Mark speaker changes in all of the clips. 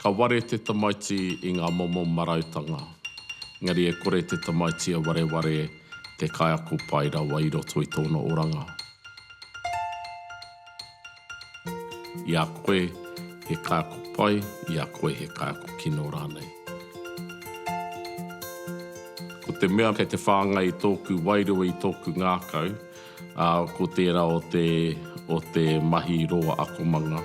Speaker 1: Ka ware te tamaiti i ngā momo marautanga, engari e kore te tamaiti a wareware te kaiako pai rawa i roto i tōna oranga. I a koe he kaiako pai, i a koe he kaiako kino rānei. Ko te mea kei te whāngai i tōku wairua, i tōku ngākau, Ā, ko tērā o te, o te mahi roa akomanga.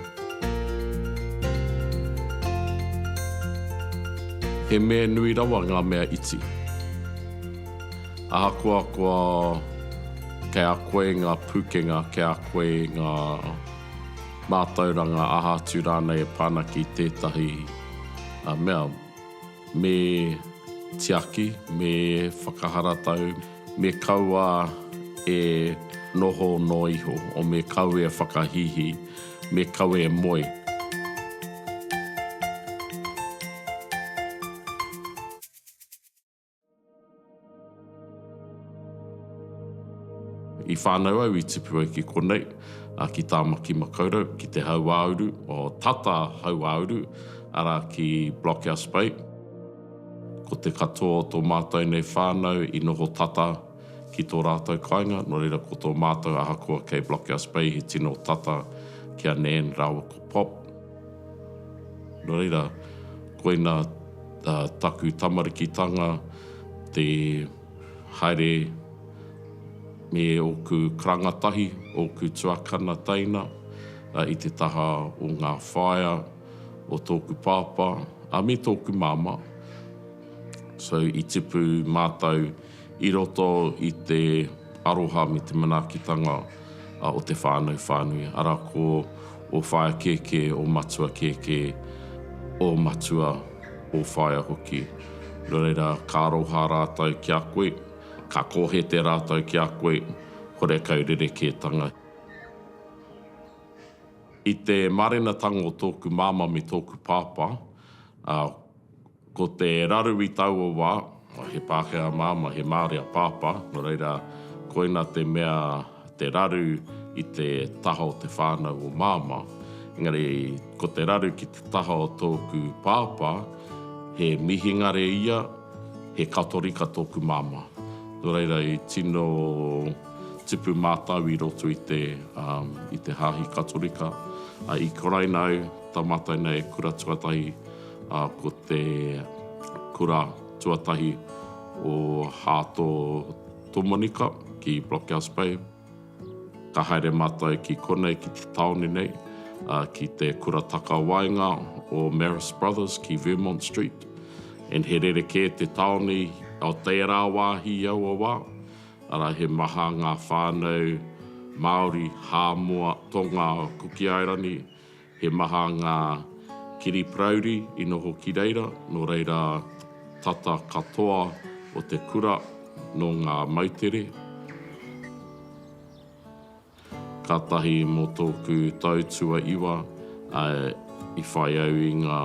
Speaker 1: He mea nui rawa ngā mea iti. Ahakoa kua, kei a koe ngā pūkenga, kei a koe ngā mātauranga aha atu rānei e pā ana ki tētahi mea, me tiaki, me whakaharatau, Me kaua e noho noa iho, o me kaua e whakahīhī, me kaua e moe. I whānau au i tipu ai ki konei, ki Tāmaki Makaurau, ki te Hauāuru, o Tata Hauāuru, arā, ki Blockhouse Bay. Ko te katoa o tō mātou nei whānau i noho tata ki tō rātou kāinga, nō reira ko tō mātou ahakoa kei Blockhouse Bay he tino tata ki a Nan rāua ko Pop. Nō reira, koina taku tamarikitanga, te haere me ōku karanga tahi, ōku tuakana teina i te taha o ngā whaea. o tōku pāpā, ā, me tōku māmā. So, i tipu mātou i roto i te aroha me te manaakitanga o te whānau whānui, arā, ko ō whaea kēkē, ō matua kēkē, ō matua, ō whaea hoki. Nō reira, ka aroha rātou ki a koe, ka kōhete rātou ki a koe, horekau rerekētanga. I te mārenatanga o tōku māmā me tōku pāpā, ā, ko te raru i taua wā, he Pākehā māmā, he Māori a pāpā, nō reira, koina te mea, te raru i te taha o te whānau o māmā. Engari, ko te raru ki te taha o tōku pāpā, he mihingare ia, he Katorika tōku māmā. Nō reira, i tino. Tipu mātau i roto i te, i te Hāhi Katorika. I karaina au, tā mātau nei e kura tuatahi, ko te kura tuatahi o Hāto Tomonika ki Blockhouse Bay. Ka haere mātau ki konei, ki te tāone nei, ki te kura takawaenga o Marist Brothers ki Vermont Street. And he rerekē te tāone o tērā wāhi i aua wā. Arā, he maha ngā whānau Māori, Hāmoa, Tonga, Kuki Airani, he maha ngā kiri parauri i noho ki reira, nō reira tata katoa o te kura nō ngā moutere. Kātahi mō tōku tau tuaiwa i whai au i ngā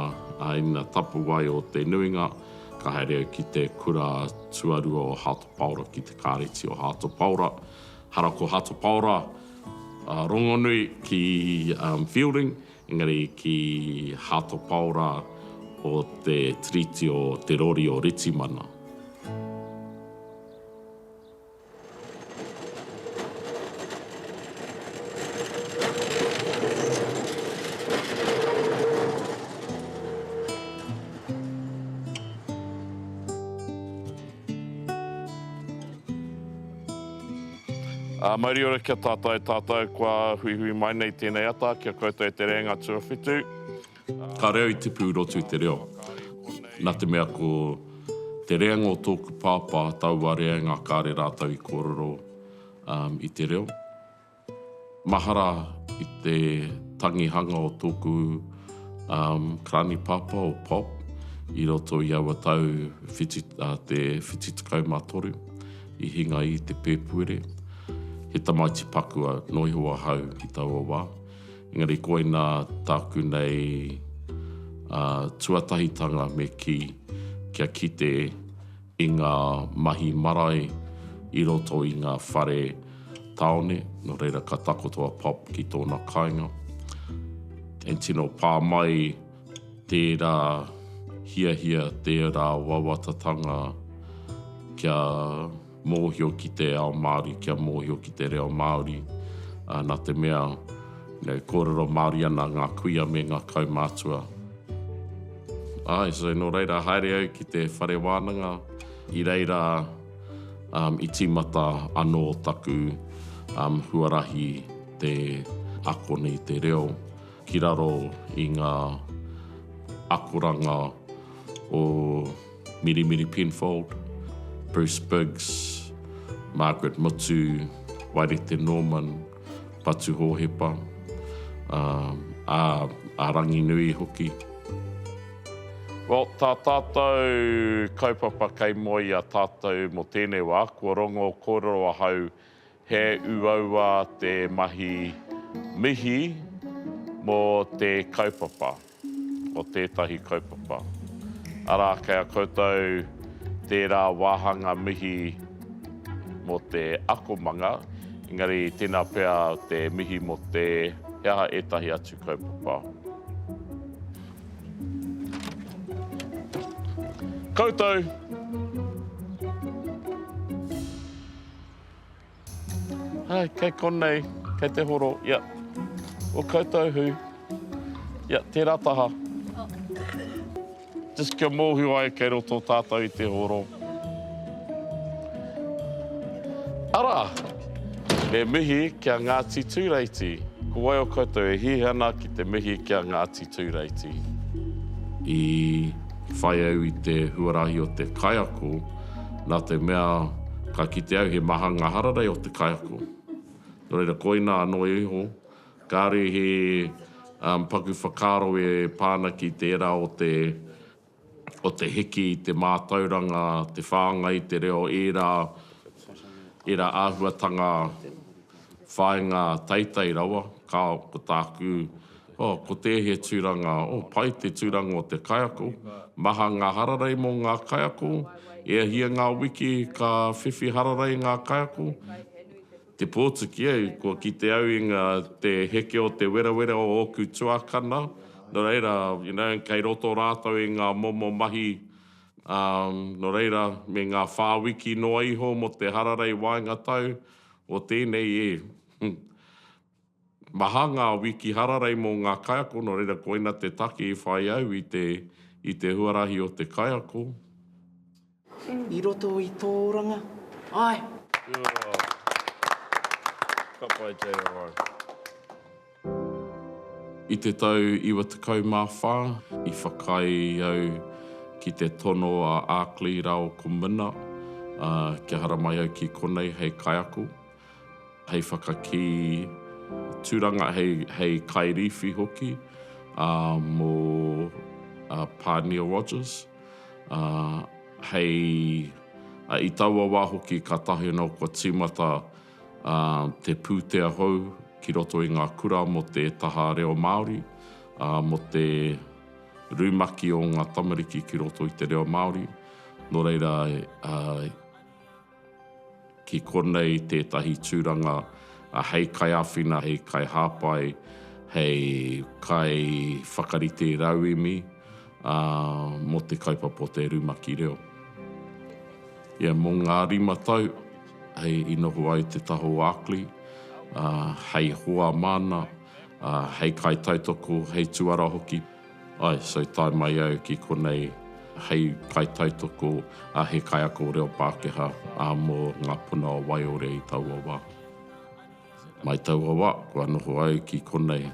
Speaker 1: āina tapuwae o te nuinga, ka haere au ki te kura tuarua o Hato Paora, ki te Kāreti o Hato Paora. Hara ko Hato Paora rongonui ki Feilding, engari ki Hato Paora o te Tiriti o Te Rori o Ritimana. Ā, mauri ora kia tātai tātou kua huihui mai nei tēnei ata, kia koutou e te rēnga tuawhitu. Ka reo i te pū rotu te reo. Na te mea ko te reanga o tōku pāpā taua reanga kāre rātou i kōrero i te reo. Mahara i te tangihanga o tōku karani pāpā o Pop i roto i aua tau te whitu tekau mā toru i hinga i te pēpuere. He tamaiti paku nō iho ahau i taua wā. Engari koina tāku nei tuatahitanga me kī, kia kite i ngā mahi marae i roto i ngā whare tāone, nō reira ka takoto a Pop ki tōna kāinga. And tino pā mai tērā hiahia, tērā wawatatanga kia. mōhio ki te ao Māori, kia mōhio ki te reo Māori, nā te mea, e kōrero Māori ana ngā kuia me ngā kaumātua. Āe, so nō reira, haere au ki te whare wānanga, i reira i tīmata anō taku huarahi te akona i te reo ki raro i ngā akoranga o. Mirimiri Penfold, Bruce Biggs, Margaret Mutu, Wairete Norman, Patu Hōhepa, ā, a Ranginui hoki. Well, tā tātou kaupapa kei mua i a tātou mō tēnei wā, kua rongo kōrero ahau, He uaua te mahi mihi mō te kaupapa, mō tētahi kaupapa. Arā, kei a koutou tērā wāhanga mihi mō te akomanga, engari tēnā pea te mihi mō te, he aha ētahi atu kaupapa. Koutou! Hai, kei konei, kei te horo, ia. O koutou hui, ia, tērā taha. Just kia mōhio ai kei roto tātou i te horo. Arā, he mihi ki a Ngāti Tūreiti. Ko wai o koutou e hihi ana ki te mihi ki a Ngāti Tūreiti? I whai au i te huarahi o te kaiako. nā te mea ka kite au he maha ngā hararei o te kaiako. Nō reira, koina anō iho, kāore he paku whakaaro e pā ana ki tērā o te, o te hiki i te mātauranga, te whāngai i te reo, ērā, ērā āhuatanga, whāinga teitei rawa, ka, ko tāku, oh, ko tēhea tūranga, oh, pai te tūranga o te kaiako, maha ngā hararei mō ngā kaiako, e a hia ngā wiki ka whiwhi hararei ngā kaiako, te pōtuki, eh, kua kite au i ngā, te heke o te werawera o ōku tuakana, nō reira, you know, kei roto rātou i ngā momo mahi, um, nō reira, me ngā whā wiki noa iho mō te hararei waenga tau, o tēnei e Maha ngā wiki hararei mō ngā kaiako nō reira koina te take i whai au i te i te huarahi o te kaiako.
Speaker 2: I roto i tō oranga, āe!
Speaker 1: Ka pai JRI. I te tau 94, i whakaae au ki te tono a Arkley rāo ko Minna kia haramai au ki konei hei kaiako, hei whakakī tūranga, hei kairīwhi hoki mō Pānia Rogers. I taua wā hoki ka tahi anō kua tīmata te pūtea hou ki roto i ngā kura mō te taha reo Māori, mō te rumaki o ngā tamariki ki roto i te reo Māori. Nō reira, ki konei tētahi tūranga hei kaiāwhina, hei kaihāpai, hei kaiwhakarite rauemi. mō te kaupapa o te rumaki reo. Ia mō ngā rima tau, hei i noho ai te taha o Arkley, hei hoa māna, hei kaitautoko, hei tuara hoki, āe, so tae mai au ki konei hei kaitautoko, he kaiako reo Pākehā mō ngā puna o Waiore i taua wā. Mai taua wa kua noho au ki konei.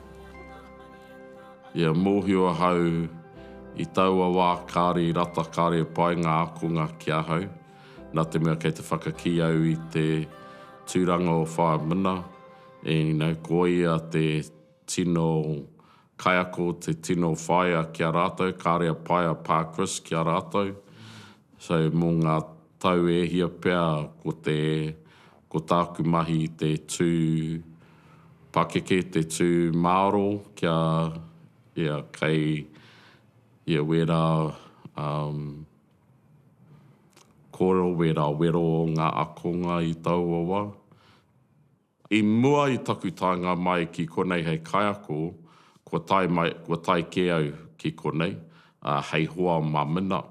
Speaker 1: Ia mohio ahau i taua wa kare rata kare pai nga akonga ki ahau, na te mea kei te whakaki au i te turanga o Wha Mna, ina koia te tino kaiako te tino whaea ki a ratou, kare a pai a Pa Chris ki a ratou. So mo nga tau e hia pea ko te Ko tāku mahi te tū pakeke, te tū māro kia, ia, kei, ia, wērā, um, kōrero, wērā wero o ngā akonga i taua wā. I mua i taku taenga mai ki konei hei kaiako, kua tae mai, kua tae kē au ki konei, hei hoa mā Minna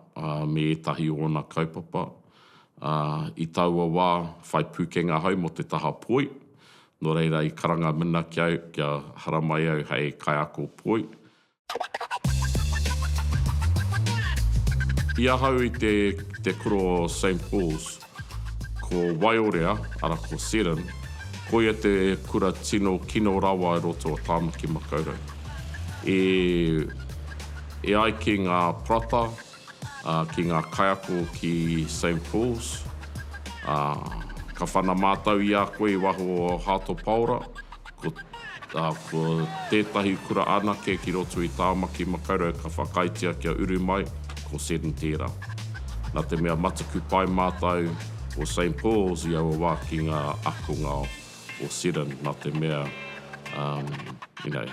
Speaker 1: me ētahi o ōna kaupapa. I taua wā, whai pūkenga ahau mō te taha poi, nō reira i karanga Minna ki au kia haramai au hei kaiako poi. I ahau i te kura o Saint Paul's. Ko Waiorea, ara ko Seddon, koia te kura tino kino rawa i roto o Tāmaki Makaurau. E, e ai ki ngā parata, ā, ki ngā kaiako ki Saint Paul's, ā, ka whana mātau i a koe i waho o Hato Paora, Ko tētahi kura anake ki roto i Tāmaki Makaurau ka whakaaetia kia uru mai, ko Seddon tērā. Nā te mea mataku pai mātau o Saint Paul's i aua wā ki ngā ākonga o Seddon, nā te mea, you know,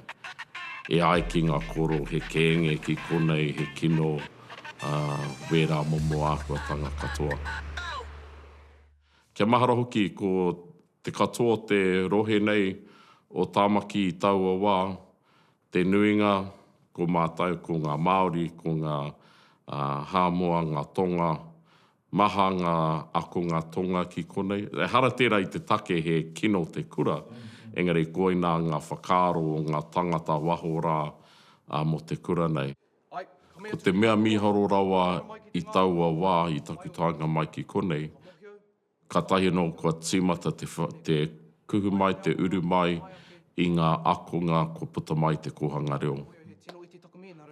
Speaker 1: e ai ki ngā koro he kēnge ki konei, he kino, wērā momo āhuatanga katoa. Kia mahara hoki ko Te katoa o te rohe nei o Tāmaki i taua wā, te nuinga ko mātou, ko ngā Māori, ko ngā Hāmoa, ngā Tonga, maha ngā akonga Tonga ki konei. Ehara tērā i te take he kino te kura, engari koinā ngā whakaaro o ngā tangata waho rā mō te kura nei. Ko te mea mīharo rawa i taua wā i taku taenga mai ki konei, Kātahi anō kua tīmata te kuhu mai, te uru mai i ngā akonga kua puta mai i te kōhanga reo.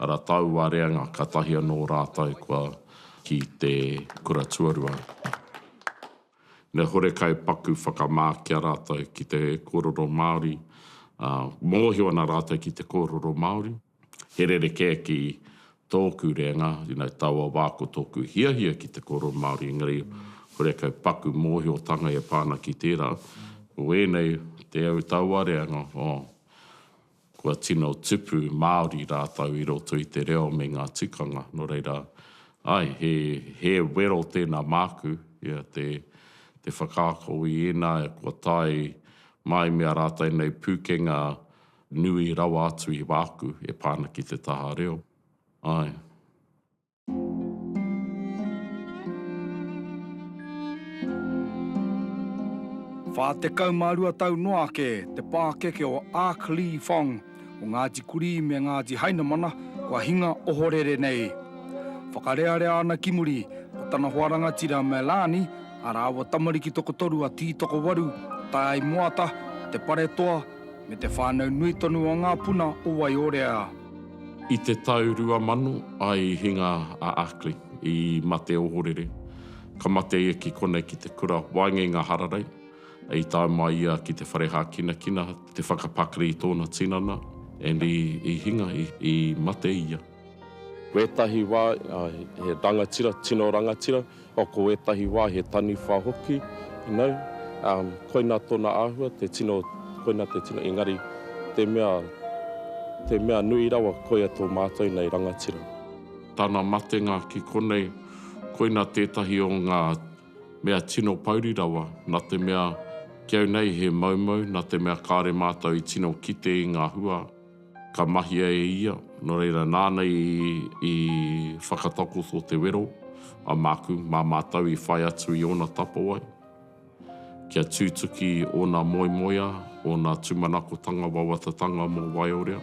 Speaker 1: Arā, taua reanga, kātahi anō rātou kua ki te kura tuarua. Me horekau paku whakamā ki a rātou ki te kōrero Māori, mōhio ana rātou ki te kōrero Māori. He rerekē ki tōku rēnga, you know, taua wā ko tōku hiahia ki te kōrero Māori, engari kore kau paku mōhiotanga e pā ana ki tērā. Ko ēnei, te au taua reanga, oh, kua tino tupu Māori rātou i roto i te reo me ngā tikanga. Nō reira, āe, he, he wero tēnā māku, ia te, te whakaako i ēnā kua tae mai me ā rātou nei pūkenga, Nui rawa atu i wāku e pā ana ki te taha reo. Āe.
Speaker 3: Whā tekau mā rua tau noa ake te pākeke o Ark Lee Fong o Ngāti Kurī me Ngāti Hainamana kua hinga ohorere nei. Whakarearea ana ki muri ko tana hoa rangatira Melani, a rāua tamariki tokotoru a Tītokowaru, Taeaimoata, Te Paretoa, me te whānau nui tonu o ngā puna o Waiōrea. I te
Speaker 1: tau 2000, i hinga a Ackley i mate ohorere. Ka mate ia ki konei ki te kura waengenga hararei. I tae mai ia ki te whare hākinakina, te whakapakari i tōna tinana, and i hinga, i mate ia. Wētahi wā he rangatira, tino rangatira, ko wētahi wā he taniwha hoki, you know, koina tōna āhua, te tino, koina te tino, engari te mea, te mea nui rawa, koia tō mātou nei rangatira. Tana matenga ki konei, koina tētahi o ngā mea tino pouri rawa, nā te mea, ki au nei he moumou, nā te mea kāore mātou i tino kite i ngā hua. Ka mahia e ia, nō reira nāna i whakatakoto te wero a māku mā mātou i whai atu i ōna tapawai, kia tūtuki ōna moemoeā, ōna tūmanakotanga wawatatanga mō Waiorea.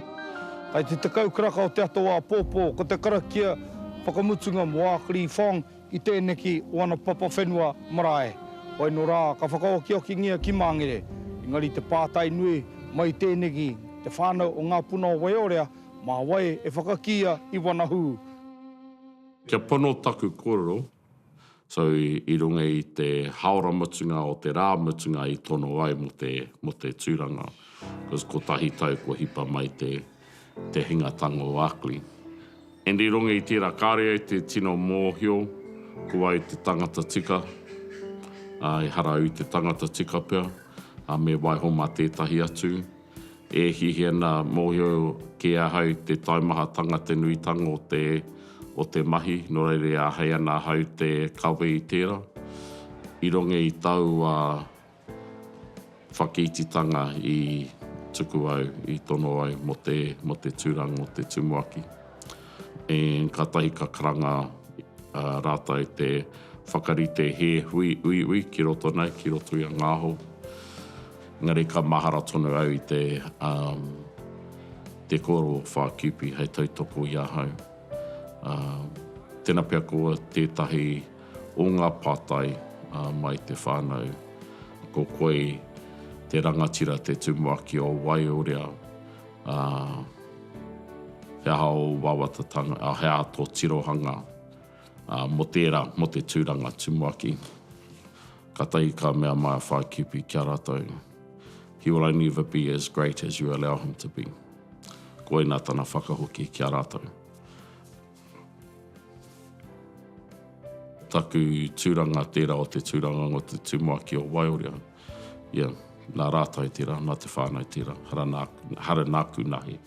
Speaker 1: Kai te
Speaker 3: tekau karaka o te ato āpōpō, ko te karakia whakamutunga mō ā Kri Phong. I tēneki wana papa whenua marae, whai no rā ka whakaokiokingia ki Māngere, engari te pātai nui mai tēneki te whānau o ngā puna o Waiorea, mā wai e whakakīia i wana hū?
Speaker 1: Kia pono taku korero, so i runga i te haora mutunga o te rā mutunga i tono ai mo te mo te turanga, cos kotahi tau kua hipa mai te te hinga tango o Akli. And i runga i tera kare ai te tino mohio ko wai te tangata tika, a ehara au te tangata tika pea, a me waiho ma tetahi atu. E hihia na mohio ke ahau te taumahatanga te nuitanga o te o te mahi no reira e ahei ana ahau te kawe i tera. I runga i taua Whakititanga i tuku au, i tono au mo te, mo te turang o te tumuaki. And katahi ka karanga ratou te whakarite he hui uiui ki roto nei, ki roto i a Ngaho. Engari ka mahara tonu au i te, um, te koro o Whakipi hei tautoko i ahau. Um, tena pea ko tetahi o ngā pātai mai te whānau. Ko Koi te rangatira te tumuaki o Waiorea, ā, he aha ō wawatatanga, ā, he aha tō tirohanga mō tērā, mō te tūranga tumuaki? Katahi ka mea Maia Whākipi ki a rātou, He will only ever be as great as you allow him to be. Koina tana whakahoki ki a rātou. Taku tūranga tērā o te tūranga o te tumuaki o Waiorea. Ia, nā rātau tērā, nā te whānau tērā, hara nā, hara nāku nahi.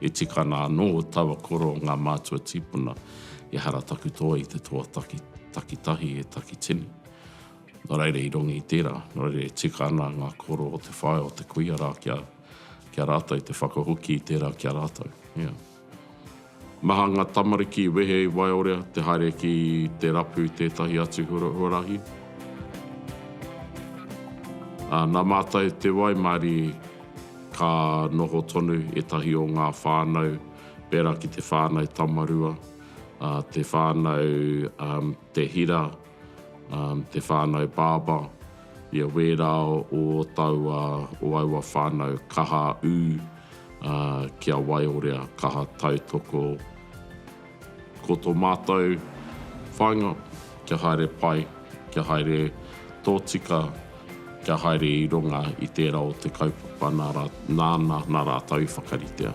Speaker 1: E tika ana anō taua koro o ngā mātua tīpuna, ehara taku toa i te toa taki, takitahi e Takitini. Nō reira i rongi i tērā, nō reira e tika ana ngā koro o te whaea o te kuia rā kia, kia rātau te whakahoki i tērā ki a rātau. Ia. Maha ngā tamariki i wehe i Waiorea te haere ki te rapu i tētahi atu huarahi. Nā mātou te waimarie ka noho tonu ētahi o ngā whānau pērā ki te whānau Tamarua, te whānau te hira, te whānau Barber, ia wērā o taua, o aua whānau kaha ū ki a Waiorea, kaha tautoko. Ko tō mātou whāinga, kia haere pai, kia haere tōtika, kia haere i runga i tērā o te kaupapa nāna nā rātou i whakaritea.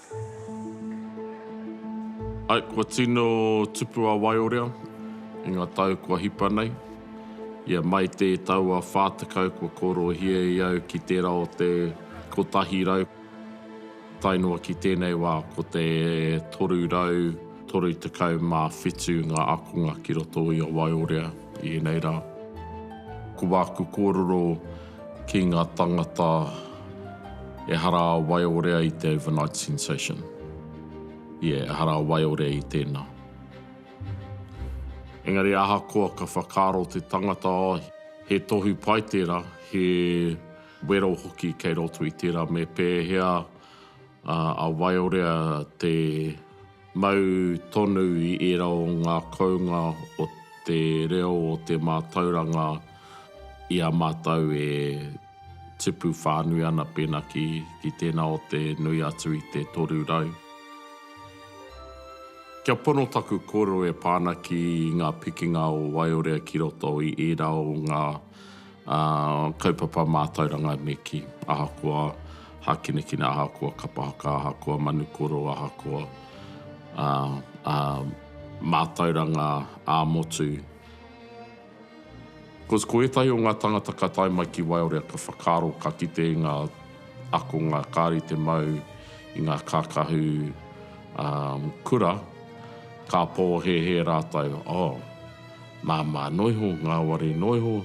Speaker 1: Ae, kua tino tupu a Waiorea i nga tau kua hipa nei. Ia mai te tau a wha tekau kua korohia e au ki tera o te kotahi rau, tae noa ki tenei wa ko te toru rau toru tekau ma whitu nga akonga ki roto i a Waiorea i enei ra. Ko waku kororo ki nga tangata ehara a waiorea i te overnight sensation yeah ehara a waiorea i tena engari ahakoa ka whakaaro te tangata oh he tohu pai tera he wero hoki kei roto i tera me pehea a waiorea te Mau tonu i ērā o ngā kounga o te reo o te mātauranga i a mātou e tipu whānui ana pēnā ki, ki tēnā o te nui atu i te 300. Kia pono taku kōrero e pā ana ki ngā pikinga o Waiorea ki roto i ērā o ngā Kaupapa mātauranga me kī, ahakoa hākinakina, ahakoa kapa haka, ahakoa manu koro, ahakoa mātauranga ā-motu. Because ko ētahi o ngā tāngata ka tae mai ki Waiora ka whakaaro, ka kite i ngā akonga kāore i te mau i ngā kākahu kura, ka pōhēhē rātou, oh, Māmā noa iho, ngāwari noa iho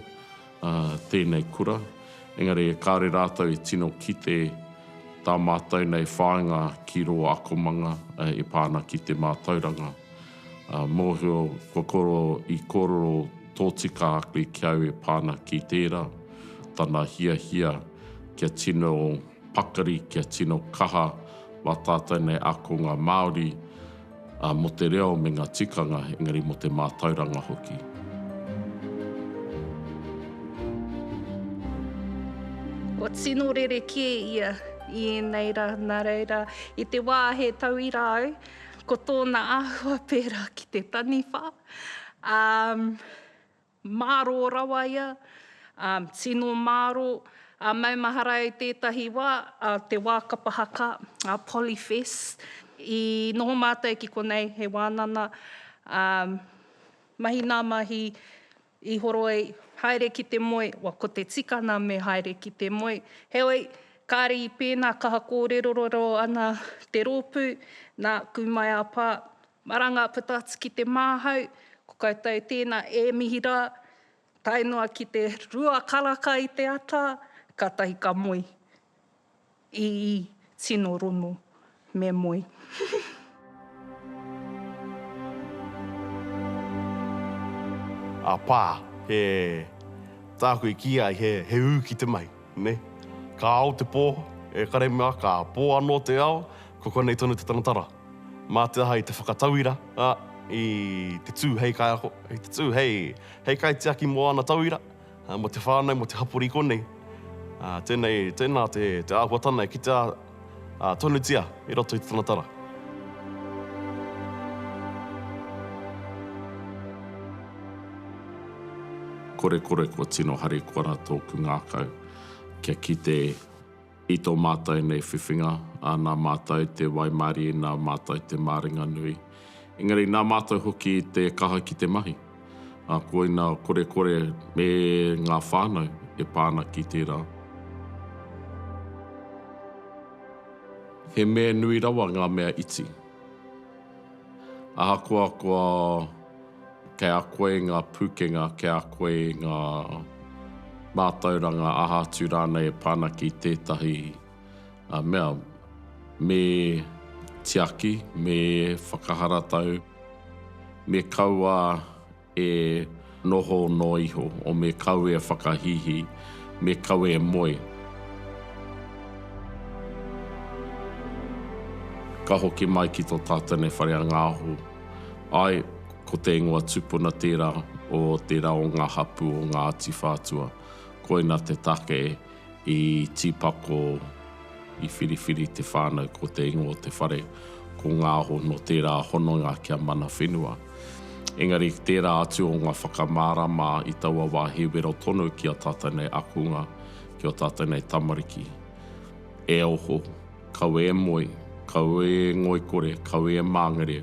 Speaker 1: tēnei kura, engari kāore rātou e tino kite tā mātou nei whāinga ki rō akomanga e pā ana ki te mātauranga. Mōhio kua koro i kōrero tōtika ake ki au e pā ana ki tērā, tana hiahia kia tino pakari, kia tino kaha mā tātou nei ākonga Māori, Ā, mō te reo me ngā tikanga, engari mō te mātauranga hoki.
Speaker 4: Kua tino rerekē ia i ēnei rā, nā reira, i te wā he tauira au, ko tōna āhua pērā ki te taniwha, ā, Mārō rawa ia, ā, tino mārō, ā, maumahara i tētahi wā, ā, te wā kapa haka, ā, Polyfest. I noho mātou ki konei, he wānana, ā, mahi nā mahi, i horoi, haere ki te moe, wa, ko te tikanga me haere ki te moe. Heoi, kāre i pēnā, kaha kōrerorero ana te rōpū, nā, kū mai a Pā, Maranga puta atu ki te māhau, ko koutou tēnā e mihi rā, tae noa ki te rua karaka i te ata, kātahi ka moe. Ii, Tino rono me moe.
Speaker 5: A pā, he, tāku i kīia ai, he ū ki te mahi, nē. Ka ao te pō, e kare mā, ka pō anō te ao, ko konei tonu te taratara. Mā te aha i te whakatauira, ā, i te tū hei kaiako, i te tū hei, hei kaitiaki mō āna tauira, ā, mō te whānau, mō te hapori i konei. Ā, tēnei, tēnā te, te āhuatana e kitea, ā, tonutia i roto i te Tonatara.
Speaker 1: Korekore kua tino harikoa ra tōku ngākau kia kite. I tō mātou nei whiwhinga, nā mātou te waimarie, nā mātou te māringanui. Engari nā mātou hoki te kaha ki te mahi. Koina kore kore me ngā whānau e pā ana ki tērā. He mea nui rawa ngā mea iti. Ahakoa kua kei a koe ngā pūkenga, kei a koe ngā mātauranga aha atu rānei e pā ana ki tētahi mea, me tiaki, me whakaharatau, me kaua e noho noa iho, o me kau e whakahīhī, me kau e moe. Ka hoki mai ki tō tātene whare a Ngāhō. Āe, ko te ingoa tupuna tērā o tērā o ngā hapū o Ngāti Whātua. Koina te take e. I tīpako, i whiriwhiri te whānau ko te ingoa o te whare, ko Ngāho nō tērā hononga kia mana whenua. Engari ki tērā atu o ngā whakamārama i taua wā he wero tonu ki ō tātou nei akunga, ki ō tātou nei tamariki. E oho, kaua e moe, kaua e ngoikore, kaua e māngere,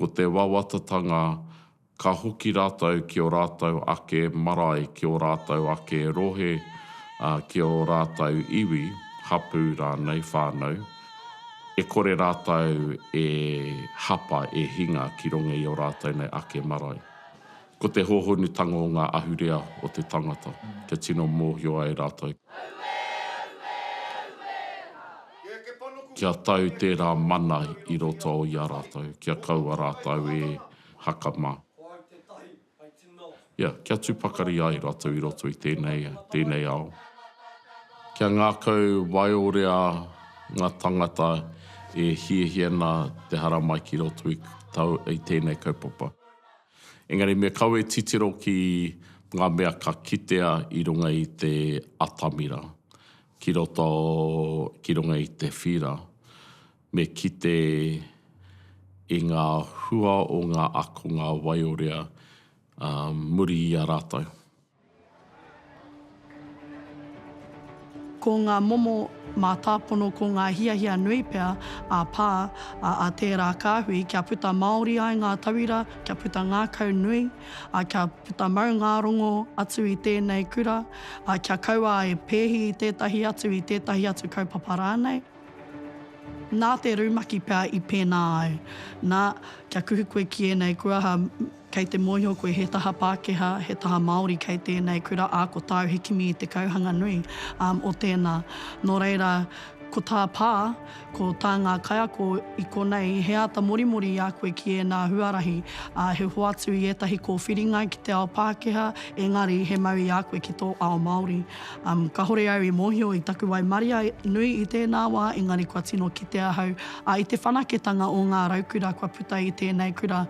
Speaker 1: Ko te wawatatanga ka hoki rātou ki ō rātou ake marae, ki ō rātou ake rohe, ki ō rātou iwi, hapū rānei, whānau, e kore rātou e hapa, e hinga ki runga i ō rātou nei ake marae. Ko te hōhonutanga o ngā ahurea o te tangata, kia tino mōhio ai rātou. Kia tau tērā mana i roto i a rātou, kia kaua rātou e haka mā. Ia, kia tū pakari ai rātou i roto i tēnei, tēnei ao. Kia ngākau waiorea ngā tangata e hiahiana te haramai ki roto i tēnei kaupapa. Engari me kawe titiro ki ngā mea ka kitea i runga i te atamira, ki roto, ki runga i te whīra. Me kite i ngā hua o ngā akonga waiorea muri i a rātou.
Speaker 6: Ko ngā momo mātāpono ko ngā hiahia nui pea a Pā, ā, a tērā kāhui, kia puta māori ai ngā tauira, kia puta ngākau nui, ā, kia puta maungārongo atu i tēnei kura, ā, kia kaua e pēhi i tētahi atu, i tētahi atu kaupapa rānei. Nā te rumaki pea i pēnā ai, nā, kia kuhu koe ki ēnei kuaha, Kei te mōhio koe he taha Pākehā, he taha Māori kei tēnei kura, ā, ko tāu he kimi i te kauhanga nui o tēnā. Nō reira, ko tā Pā, ko tā ngā kaiako i konei, he āta morimori i a koe ki ēnā huarahi, ā, he hoatu i ētahi kōwhiringa ki te ao Pākehā, engari he mau i a koe ki tō ao Māori. Kāhore au i mōhio i taku waimaria nui i tēnā wā, engari kua tino kite ahau, ā, i te whanaketanga o ngā raukura kua puta i tēnei kura,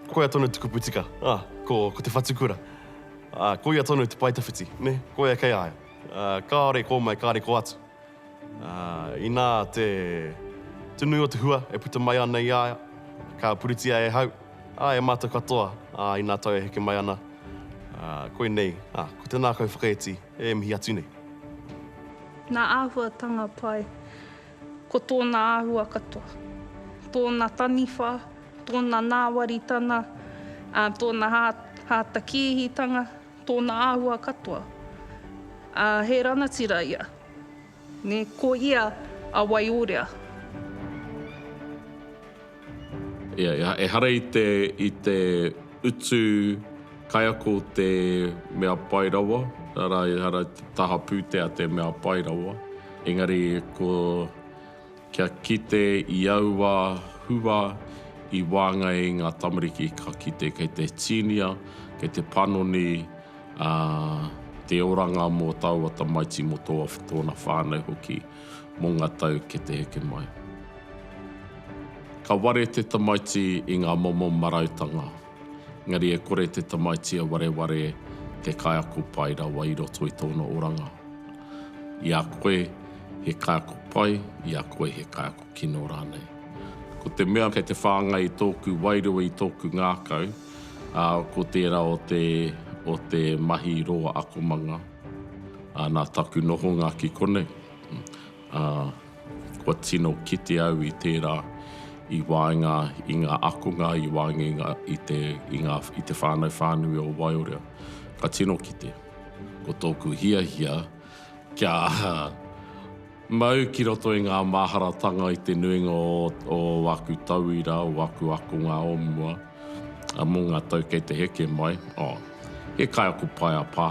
Speaker 5: Koia tonu te kupu tika, ah, ko, ko te whatu kura. Ah, koia tonu te paetawhiti, nē, koia kei a ia. Ah, kāore kō mai, kāore kō atu. Ah, inā te, te nui o te hua e puta mai ana i a ia, ka puritia e hau, ah, e mātou katoa, ah, inā tau e heke mai ana, ah, koinei, ah, ko tēnā kau whakaiti e mihi atu nei.
Speaker 4: Nā āhuatanga pai. Ko tōna āhua katoa, tōna taniwha, tōna nāwaritana, ā, tōna hātakīhitanga, tōna āhua katoa, ā, he ranatira ia, nē, ko ia a Waiorea.
Speaker 1: Ehara i te utu kaiako te mea pai rawa, arā, ehara i te taha pūtea te mea pai rawa, engari kia kite i aua hua i waenga i ngā tamariki ka kite kei te tīnia, kei te panoni te oranga mō taua tamaiti, mō tōna whānau hoki. mō ngā tau ki te heke mai. Ka ware te tamaiti i ngā momo marautanga, engari e kore te tamaiti a wareware te kaiako pai rawa i roto i tōna oranga. I a koe he kaiako pai, i a koe he kaiako kino rānei. Ko te mea kei te whāngai i tōku wairua, i tōku ngākau, ā, ko tērā o te, o te mahi roa akomanga. Nā taku nohonga ki konei, kua tino kite au i tērā i waenga i ngā akonga, i waenga i te whānau whānui o Waiorea. Ka tino kite. Ko tōku hiahia kia Mau ki roto i ngā māharatanga i te nuinga o aku tauira, o aku akonga o mua, mō ngā tau kei te heke mai, oh, he kaiako pai a Pa.